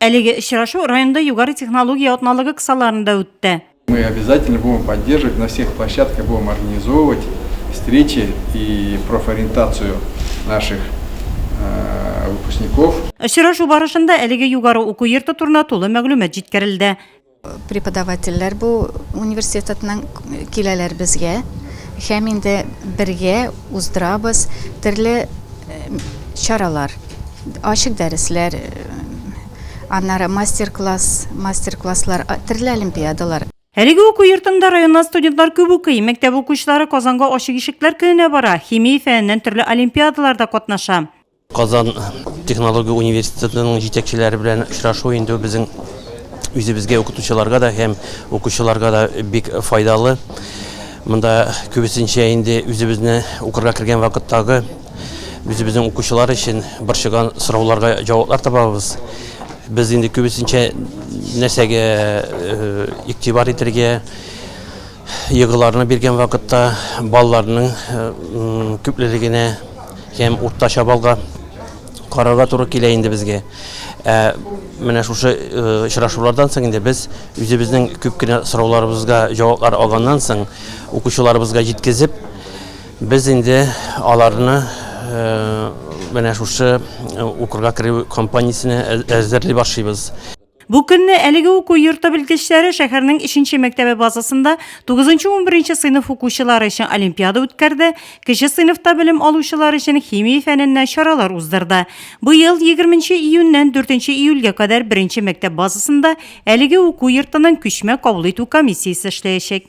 Әлеге очрашу районда югары технология атналыгы кысаларында үтте. Мы обязательно будем поддерживать на всех площадках, будем организовывать встречи и профориентацию наших выпускников. Очрашу барышында әлеге югары уку йорты турында тулы мәгълүмат җиткерелде. Преподавательләр бу университетның киләләр безгә һәм инде бергә уздырабыз төрле чаралар, ачык дәресләр, аннары мастер-класс, мастер-класслар, төрле олимпиадалар. Әлеге уку йортында районнан студентлар күп укый, мәктәп укучылары Казанга Ачык ишекләр көненә бара, химия фәненнән төрле олимпиадаларда катнаша. Казан технология университетының җитәкчеләре белән очрашу инде безнең үзебезгә укытучыларга да һәм укучыларга да бик файдалы. Монда күбесенчә инде үзебезне укырга кергән вакыттагы үзебезнең укучылар өчен борчыган сорауларга җаваплар табабыз. Без инде күбесенчә нәрсәгә игътибар итәргә, егыларны биргән вакытта балаларның күплелегенә Һәм уртача баллга карарга туры килә инде безгә. Ә менә шушы очрашулардан соң инде без үзебезнең күп кенә сорауларыбызга җаваплар алганнан соң укучыларыбызга җиткезеп, без инде аларны менә шушы укырга керү компаниясенә әзерли башлыйбыз. Бу көнне әлеге уку йорты белгечләре шәһәрнең 3 мәктәбе базасында 9-11 сыйныф укучылары өчен олимпиада үткәрде, кече сыйныфта белем алучылар өчен химия фәненнән чаралар уздырды. Быел 20 июньнән 4 июльгә кадәр беренче мәктәп базасында әлеге уку йортының күчмә кабул итү комиссиясе эшләячәк.